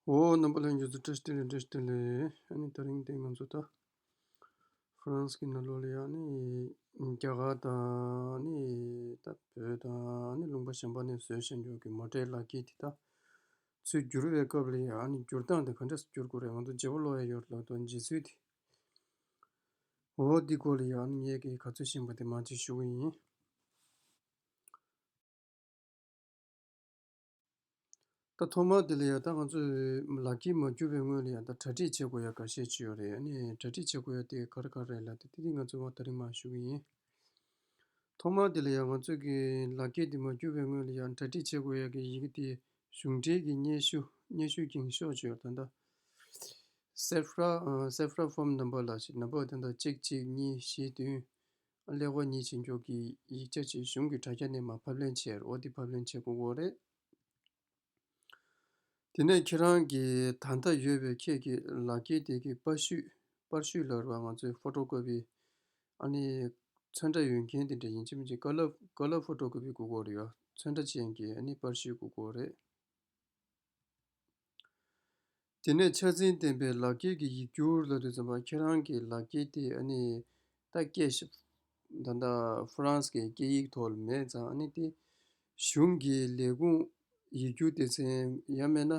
འོ། རྣམ་པ་ལྷན་རྒྱས་སུ་ཀྲེ་སྟི་ལེ་ཀྲེ་སྟི་ལེ། ཨ་ནི་ད་རིང་དེ་ང་ཚོ་ད། ཧྥ་རན་སི་གི་ནཱ་ལོ་ལི་ཡ་ནི། རྒྱ་གར་དང་ནི། ད་བོད་དང་ནི་ལུང་པ་གཞན་པ་ནས་བཟོས་བཤད་འཇོག་གི་མ་འདྲེས་ལག་འཁྱེར་དེ་དག། ཚུལ་བསྒྱུར་བའི་སྐབས་ལ་ཡ་ཨ་ནི་བསྒྱུར་སྟངས་དེ་ག་འདྲས་སུ་བསྒྱུར་དགོས་རེད་ང་ཚོ་བརྗེ་པོ་ལོས་ཡོད་ལགས་དོ་བརྗེ་ཚུལ་དེ། འོ། འདི་སྐོར་ལ་ཡ་ཨ་ནི་ངས་གི་ག་ཚོད་བཞིན་པ་དེ་མ་གཅིག་ཞུ་གི་ཡིན། ད་ཐོག་མར་དེ་ལ་ཡང་ད་ང་ཚོས་ལག་ཁྱེར་མ་འཁྱུར་བའི་སྔོན་ལ་ཡང་ད་གྲ་སྒྲིག་བྱེད་དགོས་ཡ་ག་ཤས་ཅི་ཡོད་རེད་ཨ་ནི་གྲ་སྒྲིག་བྱེད་དགོས་ཡ་དེ་གར་གར་རེད་ལ་དེ་དེ་ང་ཚོས་བ་ད་རིང་མ་ཞུ་གི་ཡིན། ཐོག་མར་དེ་ལ་ཡང་ང་ཚོས་ཀྱི་ལག་ཁྱེར་དེ་མ་འཁྱུར་བའི་སྔོན་ལ་ཡང་གྲ་སྒྲིག་བྱེད་དགོས་ཡ་གི་ཡི་གི་དེ་གཞུང་འབྲེལ་གྱི་སྙན་ཞུ་སྙན་ཞུ་གིང་ཤོག་ཅི་ཡོད་ད་ད། Safra Safra Form Number ལ་ཞིག་ན་བག་དེ་ད་གཅིག་གཅིག་གཉིས་བཞི་བདུན། ཀླད་ཀོར་ཉིད་བྱེད་འགྱུར་གྱི་ཡིག་ཆ་ཆེད་གཞུང་གི་དྲ་རྒྱ་ནས་མ་ཕབ་ལེན་ཆེད་རོ་འདི་ཕབ་ལེན་བྱེད་དགོས་འོ་རེད། དེ་ནས་ཁྱེད་རང་གི་ད་ལྟ་ཡོད་པའི་ཁྱེད་ཀྱི་ལག་འཁྱེར་དེ་གི་པར་བཤུས་པར་བཤུས་ལ་རོ་ང་ཚོའི་ཕོཏོ་ཀོ་པི་ཨ་ནི་ཚོན་ཁྲ་ཡོད་མཁན་དེ་འདྲ་ཡིན་གཅིག་མིན་གཅིག་ཀ་ལ་ཕོཏོ་ཀོ་པི་དགོས་འོ་རེད་ཡོ་ཚོན་ཁྲ་ཅན་གྱི་ཨ་ནི་པར་བཤུས་དགོས་འོ་རེད། དེ་ནས་ཕྱག་མཚན་བསྟན་པའི་ལག་འཁྱེར་གྱི་ཡིག་སྒྱུར་ལ་དུས་ཚོད་ཁྱེད་རང་གི་ལག་འཁྱེར་དེ་ཨ་ནི་ད་སྐད་ཤི། ད་ལྟ་ཧྥུ་རན་སི་གི་སྐད་ཡིག་ཐོག་ལ་མེད་ཙང་ཨ་ནི་དེ་གཞུང་གི་ལས་ཁུངས་ཡིག་སྒྱུར་སྡེ་ཚན་ཡ་མེད་ན།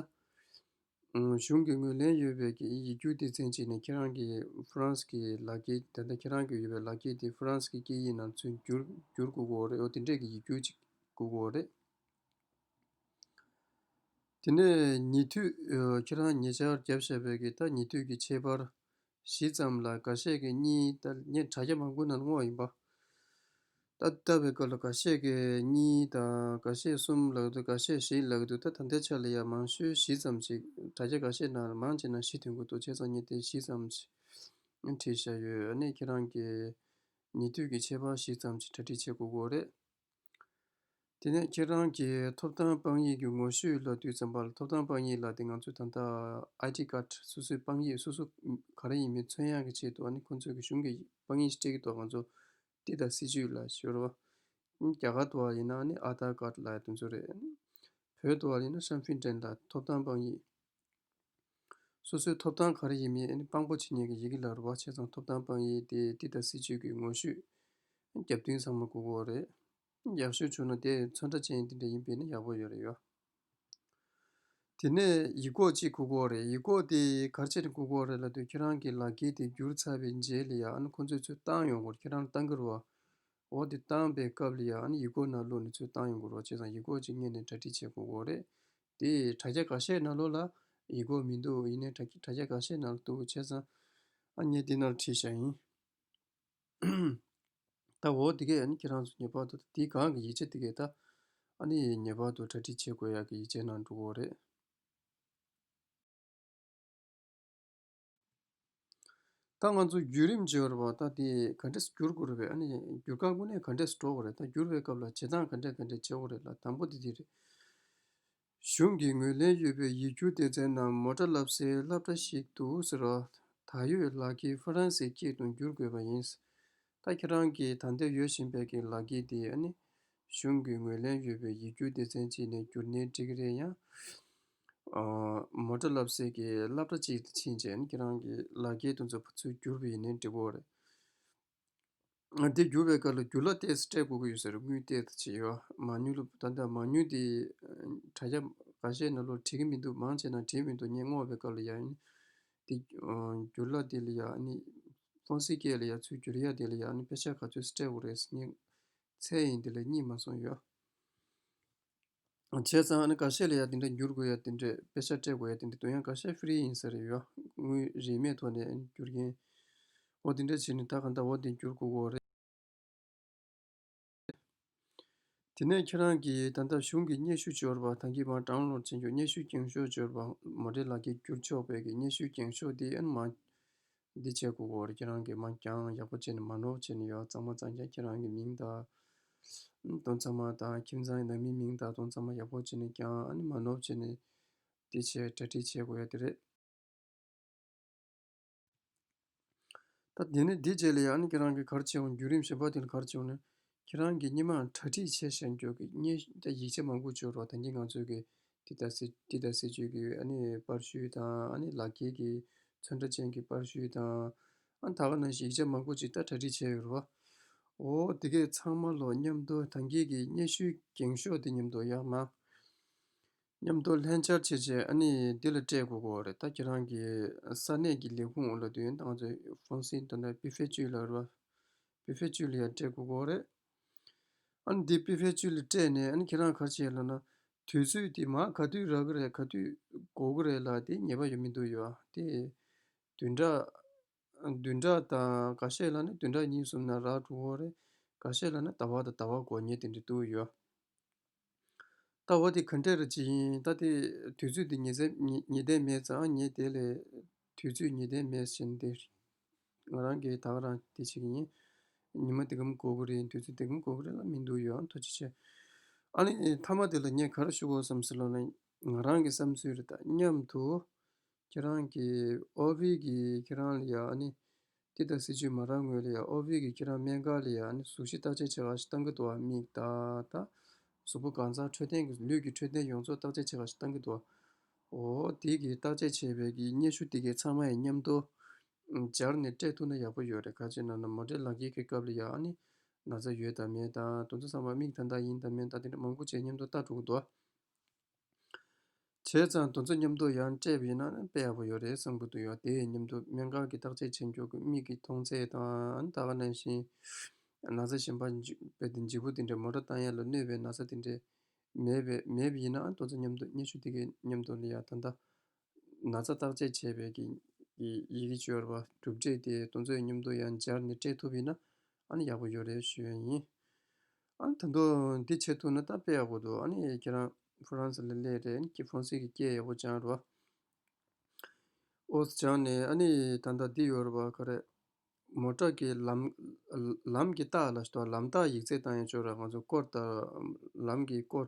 གཞུང་གི་ངོས་ལེན་ཡོད་པའི་ཡིག་སྒྱུར་སྡེ་ཚན་ཅིག་ནས་ཁྱེད་རང་གི་ཧྥུ་རན་སི་གི་ལག་འཁྱེར་ད་ལྟ་ཁྱེད་རང་གི་ཡོད་པའི་ལག་འཁྱེར་དེ་ཧྥུ་རན་སི་གི་སྐད་ཡིག་ནང་ཚུན་བསྒྱུར་བསྒྱུར་དགོས་ཀྱི་འོ་རེད་འོ་དེ་འདྲས་ཀྱི་ཡིག་སྒྱུར་ཅིག་དགོས་ཀྱི་འོ་རེད། དེ་ནས་ཉེ་དུས་ཁྱེད་རང་ཉེ་ཆར་བརྒྱབ་བཤད་པའི་གི་ད་ཉེ་དུས་ཀྱི་ཕྱེད་པར་བཞི་ཙམ་ལ་འགའ་ཤས་ཀྱིས་གཉིས་ད་ངས་དྲ་རྒྱ་མང་པོའི་ནང་བསྔོགས་ཡིན་པ། ད་ལྟ་བའི་སྐབས་ལ་འགའ་ཤས་ཀྱིས་གཉིས་ད་འགའ་ཤས་གསུམ་ལགས་འདུག་འགའ་ཤས་བཞི་ལགས་འདུག་ད་ད་ལྟའི་ཆ་ལ་ཡང་མང་ཤོས་བཞི་ཙམ་ཞིག་དྲ་རྒྱ་འགའ་ཤས་ནང་ལ་མང་ཆེ་ན་བཞི་དོན་གོ་ཏོ་བྱས་ཙང་གཉིས་ད་བཞི་ཙམ་ཞིག་བྲིས་བཞག་ཡོད། ཨ་ནེ་ཁྱེད་རང་གིས་ཉེ་དུས་ཀྱི་ཕྱེད་པར་བཞི་ཙམ་ཞིག་གྲ་སྒྲིག་བྱེད་དགོས་གོ་རེད། དེ་ནས་ཁྱེད་རང་གི་ཐོབ་ཐང་དཔང་ཡིག་གི་ངོ་བཤུས་ལ་དུས་ཙམ་བར་ཐོབ་ཐང་དཔང་ཡིག་ལ་དེ་ང་ཚོས་ད་ལྟ ID Card སོ་སོའི་དཔང་ཡིག་སོ་སོ་ག་རེ་ཡིན་མིན་ཚོད་ཡག་གི་ཆེད་དུ་ཨ་ནི་ཁོང་ཚོས་གཞུང་གི་དཔང་ཡིག་ཞིག་སྤྲད་ཀྱི་ཐོག་ང་ཚོ་འདི་དང་སྲིད་ཇུས་ལ་ཤོར་བ། རྒྱ་གར་དུ་བ་ཡིན་ན་ཨ་ནི Aadhar Card ལ་དེ་ཚོ་རེད། བོད་དུ་བ་ཡིན་ན Shamfinten ལ་ཐོབ་ཐང་དཔང་ཡིག་སོ་སོའི་ཐོབ་ཐང་ག་རེ་ཡིན་མིན་དཔང་པོ་བྱེད་མཁན་གྱི་ཡི་གེ་ལ་རུ་བ་ཆེ་ཚང་ཐོབ་ཐང་དཔང་ཡིག་དེ་འདི་ལྟར་སྲིད་བྱུས་ཀྱི་ངོ་བཤུས། རྒྱབ་མདུན་ཚང་མ་གུག་འོག་རེད། ཡག་ཤོས་བྱུང་ན་དེ་མཚོན་ཁྲ་ཅན་འདི་འདྲ་ཡིན་པས་ན་ཡག་པོ་ཡོད་རེད་ཡོད། དེ་ནས་ཡིག་སྐོགས་གཅིག་གུག་འོག་རེད་ཡིག་སྐོགས་དེ་གར་ཆེད་དུ་གུག་འོག་རེད་ལབ་དུས་ཁྱེད་རང་གི་ལག་འཁྱེར་དེ་བསྒྱུར་ཚར་བའི་རྗེས་ལ་ཡང་ཁོ་ཚོས་ཚུར་བཏང་ཡོང་སྐོར་ཁྱེད་རང་བཏང་གི་རུ་བ་འོག་དེ་བཏང་པའི་སྐབས་ལ་ཡང་ཡིག་སྐོགས་ནང་བླུགས་ནས་ཚུར་བཏང་ཡོང་གི་རུ་བ་ཆེ་ཚང་ཡིག་སྐོགས་གཅིག་རྙེད་ནས་གྲ་སྒྲིག་བྱེད་གུག་འོག་རེད་དེ་དྲ་རྒྱ་ག་ཤེད་ན་ལོ་ལ་ཡིག་གོ་མི་འདུག་ཡིན་ནའི་དྲ་རྒྱ་ག་ཤེད་ན་ལོ་འདུག་བྱས་ཙང་ཨ་མྱེས་འདི་ནར་ཁྲིད་བཞག་ཡིན། ད་འོ་དེ་གས་ཨ་ནི་ཁྱེད་རང་ཚོ་ངེས་པར་དུ་དེའི་སྒང་གི་ཡིག་ཆ་དེ་གས་ད་ཨ་ནི་ངེས་པར་དུ་གྲ་སྒྲིག་བྱེད་དགོས་ཡག་གི་ཡིག་ཆའི་ནང་འགྲོ་འོ་རེད། ད་ང་ཚོ་བརྒྱུད་རིམ་བརྗེ་བ་རེད་པ་ད་དེ་ག་འདྲས་སུ་འགྱུར་དགོས་རེད་བས་ཨ་ནི་འགྱུར་ཁག་ཀུན་ནས་ག་འདྲས་སུ་འགྲོ་དགོས་རེད་ད་འགྱུར་བའི་སྐབས་ལ་བྱེད་སྟངས་ག་འདྲས་ག་འདྲས་བྱེད་འོག་རེད་ལ་དང་པོ་དེ་དེ་རེད། གཞུང་གིས་ངོས་ལེན་ཡོད་པའི་ཡིག་རྒྱུགས་སྡེ་ཚན་ནང་མོ་ཏྲ་ལབ་སའི་ལྷབ་ཏྲ་ཞིག་འདུག་ཟེར་བ། ད་ཡོད་ལག་འཁྱེར་ཧྥ་རན་སའི་སྐད་དུ་འགྱུར་དགོས་པ་ཡིན། ད་ཁྱེད་རང་གིས་ད་འདིར་ཡོད་བཞིན་པའི་གི་ལག་གིས་དེ་ནི་གཞུང་གི་ངོས་ལེན་ཡོད་པའི་ཡིག་སྒྱུར་སྡེ་ཚན་གཅིག་ནས་བསྒྱུར་ནས་འབྲི་གི་རེད་ཡང། མོ་ཏྲ་ལབ་སེ་གི་ལབ་ཏྲ་གཅིག་དེ་ཕྱིན་ཆད་ཁྱེད་རང་གི་ལག་གིས་དུ་འཛུགས་པ་ཚུལ་བསྒྱུར་བས་ནི་འགྲིག་བོ་རེད། འདི་བསྒྱུར་བའི་སྐབས་ལ་འགྱུར་ལ་ལྟས་སུ་སྤྲད་དགོས་ཀྱི་ཡོད་ཟེར་དངུལ་ལྟས་དུ་བྱས་ཡོད་མ་ཉུལ་ལོ་ད་ལྟ་མ་ཉུལ་དེ་དྲ་རྒྱ་འགའ་ཤས་ནས་ལོ་བྲིས་ཀྱི་མི་འདུག་མང་ཆེ་ན་བྲིས་མི་འདུག་ངས་བསྔོགས་པའི་སྐབས་ལ་ཡང་དེ། འགྱུར་ལ་དེ་ལ་ཡང་ནི། སྟོང་སྲིད་སྐད་ལ་ཡང་ཚུལ་འགྱུར་ཡང་དེ་ལ་ཡང་ནི་དཔེ་ཆ་ག་ཚོད་སི་ཏྲས་བོ་རེ་སི་ཉིད། ཚད་ཡིན་དེ་ལ་གཉིས་མ་སོང་ཡོད། བྱས་ཙང་ཨ་ནི་ག་ཤེད་ལ་ཡང་དེ་འདྲ་འགྱུར་དགོས་ཡང་དེ་འདྲའི་དཔེ་ཆ་སྤྲད་དགོས་ཡང་དེ་འདྲའི་དོན་ཡང་ག་ཤེད་ཧྥེ་རི་ཡིན་ས་རེད་ཡོད། དངོས་རིས་མེད་ཐོག་ནས་འགྱུར་མཁན། འོ་དེ་འདྲ་བྱས་ནས་ད་ག་འདྲ་འོ་དེ་འགྱུར་དགོས་འོ་རེད། དེ་ནས་ཁྱེད་རང་གིས་ད་ལྟ་གཞུང་གི་སྙན་ཞུ་འབྱོར་བ་དང་གི་བར་དྲང་བློར་འཛིན་རྒྱུ་སྙན་ཞུའི་འགེངས་ཤོག་འབྱོར་བ་མ་བྲིས་ལགས་ཀྱི་བསྒྱུར་ཆོག་བས་ཀྱི་སྙན་ཞུའི་འགེངས་ཤོག་འདི་ཨེ་མ། འདི་བྱས་གོ་གོ་རེ་ཁྱེད་རང་གིས་མ་འགྱངས་ཡག་པོ་བྱས་ནས་མ་ནོར་བྱས་ནས་ཡོད་གཙང་མ་གཙང་རྒྱ་ཁྱེད་རང་གི་མིང་དང། དོན་ཚང་མ་དང་ཁྱིམ་ཚང་ནང་མི་མིང་དང་དོན་ཚང་མ་ཡག་པོ་བྱས་ནས་འགྱངས་ཨ་ནི་མ་ནོར་བྱས་ནས་འདི་བྱས་གྲ་སྒྲིག་བྱས་གོ་ཡ་དེ་རེད། ད་དེ་ནས་འདི་བྱས་ལ་ཡང་ནི་ཁྱེད་རང་གིས་གར་བྱེད་འོང་བརྒྱུད་རིམ་བཞིན་བ་དེ་ལ་གར་བྱེད་འོང་ནས་ཁྱེད་རང་གིས་སྙེ་མའང་གྲ་སྒྲིག་བྱས་ཤག་མགྱོགས་ཀྱིས་སྙེ་རྒྱ་ཡིག་ཆ་མང་པོ་བཅོས་རོགས་ད་གིན་ང་ཚོས་གིས་འདི་ལྟར་ཟེར་འདི་ལྟར་ཟེར་བཅོས་ཀྱིས་ཨ་ནི་པར་བཤུས་དང་ཨ་ནི་ལག་འཁྱེར་གྱི་ཚོན་ཁྲ་ཅན་གྱི་པར་བཤུས་དང་ཨ་ད་ག་ནང་བཞིན་ཡིག་ཆ་མང་པོ་ཅིག་ད་གྲ་སྒྲིག་བྱས་ཡོད་རོགས། འོ་དེ་གས་ཚང་མ་ལོ་སྙམ་དུ་ད་གིན་གིས་སྙེ་ཤུལ་འགེངས་ཤོག་འདི་སྙམ་དུ་ཡག་མ། མཉམ་དུ་ལྷན་བཅར་བྱེད་ཆེད་ཨ་ནི་འདི་ལ་སྤྲད་དགོས་ཀོ་རེད་ད་ཁྱེད་རང་གི་ས་གནས་ཀྱི་ལས་ཁུངས་ལ་དུས་ཡུན་ཏང་ཙུའི་ཧྥུང་སིན་དོན་དང་པི་ཧྥེ་ཅུས་ལ་རོ་པི་ཧྥེ་ཅུས་ལ་ཡང་སྤྲད་དགོས་ཀོ་རེད། ཨ་ནི་འདི་པི་ཧྥེ་ཅུས་ལ་སྤྲད་ནས་ཨ་ནི་ཁྱེད་རང་གར་བྱེད་ལ་ན་དུས་ཚོད་དེ་མ་ག་དུས་རག་གི་རེད་ག་དུས་འགོ་གི་རེད་ལ་དེ་ངེས་པ་ཡོད་མི་འདུག་ཡོད་དེ་དུས་འདྲ་བདུན་ཕྲག་དང་འགའ་ཤས་ལ་ནི་བདུན་ཕྲག་གཉིས་གསུམ་ན་རགས་དྲུག་ཧོར་རེ། འགའ་ཤས་ལ་ནི་ཟླ་བ་དང་ཟླ་བ་གོ་ཉེ་དེ་འདྲའི་དུ་ཡོད། ད་བ་དེ་གང་འདྲས་རེད་ཅི་ཡིན་ད་དེ་དུས་ཚོད་དེ་ཉི་ཟླས་མེད་ཙང་ངས་དེ་ལས་དུས་ཚོད་ཉི་ཟླས་མེད་བཞིན་དེ་ང་རང་གིས་དག་རང་དེ་བྱེད་ཀྱི་ཡིན། ཉི་མ་དེ་གམ་གོ་གི་རེད་དུས་ཚོད་དེ་གམ་གོ་གི་རེད་ལ་མི་འདུག་ཡོད་ཨང་ཐུགས་རྗེ་ཆེ། ཨ་ནི་མཐའ་མ་དེ་ལ་ངས་ག་རེ་ཞུ་དགོས་སམ་ཟེར་ལོ་ན། ང་རང་གི་བསམ་ཚུལ་རེད་ད་སྙམ་དུ། ཁྱེད་རང་གི་ཨོ་བྷིལ་གྱིས་ཁྱེད་རང་ལ་ཡང་ནི། འདི་དང་སྲིད་ཇུས་མ་རག་ངོས་ལ་ཡང་ཨོ་བྷིལ་གྱིས་ཁྱེད་རང་སྨན་ཁང་ལ་ཡང་ནི་གཟུགས་གཞི་བརྟག་དཔྱད་བྱེད་ཁང་ཞིག་གཏང་གི་འདུག་བ་མིག་བརྟག་དང། གཟུགས་པོ་གང་ཚང་འཕྲོད་བསྟེན་གྱི་ལུས་ཀྱི་འཕྲོད་བསྟེན་ཡོངས་རྫོགས་བརྟག་དཔྱད་བྱེད་ཁང་ཞིག་གཏང་གི་འདུག་བ། འོ་དེ་གི་བརྟག་དཔྱད་བྱས་པའི་གི་སྙན་ཞུ་དེ་གའི་ཚང་མ་ཡི་མཉམ་དུ། སྦྱར་ནི་སྤྲད་ཐུབ་ན་ཡག་པོ་ཡོད་རེད་ཁ་ཅིག་ནང་ན་མོ་འདྲེ་ལག་འཁྱེར་གི་སྐབས་ལ་ཡང་ནི། ན་ཚ་ཡོད་དམ་མེད་དང་དུང་ཚ་ཚང་མ་མིག་ཐ་མདའ་ཡིན་དམ་མིན་དང་དེ་འདྲ་མང་པོ་བཅས་མཉམ་དུ་བལྟ་འགྲོ་གི་འདུག་བ། བྱས་ཙང་དོན་ཚན་མཉམ་དུ་ཡང་སྤྲད་པའི་ནང་དཔེ་ཡག་པོ་ཡོད་རེད་བསམ་གྱི་འདུག་ཡང་དེ་ཡི་མཉམ་དུ་སྨན་ཁང་གི་བརྟག་དཔྱད་བྱེད་མགྱོགས་ཀྱི་མིག་གི་མཐོང་ཚད་དང་ད་ག་ནང་བཞིན་ན་ཚ་ཞིམ་པ་བེད་དེ་འཇིགས་པོ་དེ་འདྲའི་མོ་ཏྲ་བཏང་ཡས་ལ་གནོད་པའི་ན་ཚ་དེ་འདྲའི་མེད་པས་མེད་པས་ཡིན་ནའང་དོན་ཚན་མཉམ་དུ་སྙན་ཞུ་དེ་གའི་མཉམ་དུ་ལ་ཡ་ད་ད་ན་ཚ་བརྟག་དཔྱད་བྱས་པའི་གྱི་ཡི་གེ་སྦྱོར་བ་གྲུབ་འབྲས་དེ་ལྟོ་འཛོལ་སྙོམ་འདོར་ཡང་སྦྱར་ནས་སྤྲད་ཐུབ་ཡིན་ན་ཨཱ་ནི་ཡག་པོ་ཡོད་རེད་ཞུ་ཡ་ཡིན། ཨཱ་ད་དུ་འདི་བྱེད་ཐུབ་ན་ད་དཔེ་ཡག་པོ་འདུག་ཨཱ་ནི་ཁྱེད་རང་ཕུ་རང་ས་ལ་སླེ་རེད་ཨཱ་ནི་ཕོང་སི་གི་སྐད་ཡག་པོ་སྦྱང་རོགས། ཨོ་སྦྱང་ནས་ཨཱ་ནི་ད་ལྟ་འདི་ཡོད་རོགས་ག་རེད། མོ་ཀྲག་གི་ལམ་ལམ་གྱི་རྟགས་ལ་ལམ་རྟགས་ཡིག་ཚད་བཏང་ཡང་ཆོག་ར་ང་ཚོ་ཀོར་ལྟར་ལམ་གྱི་ཀོར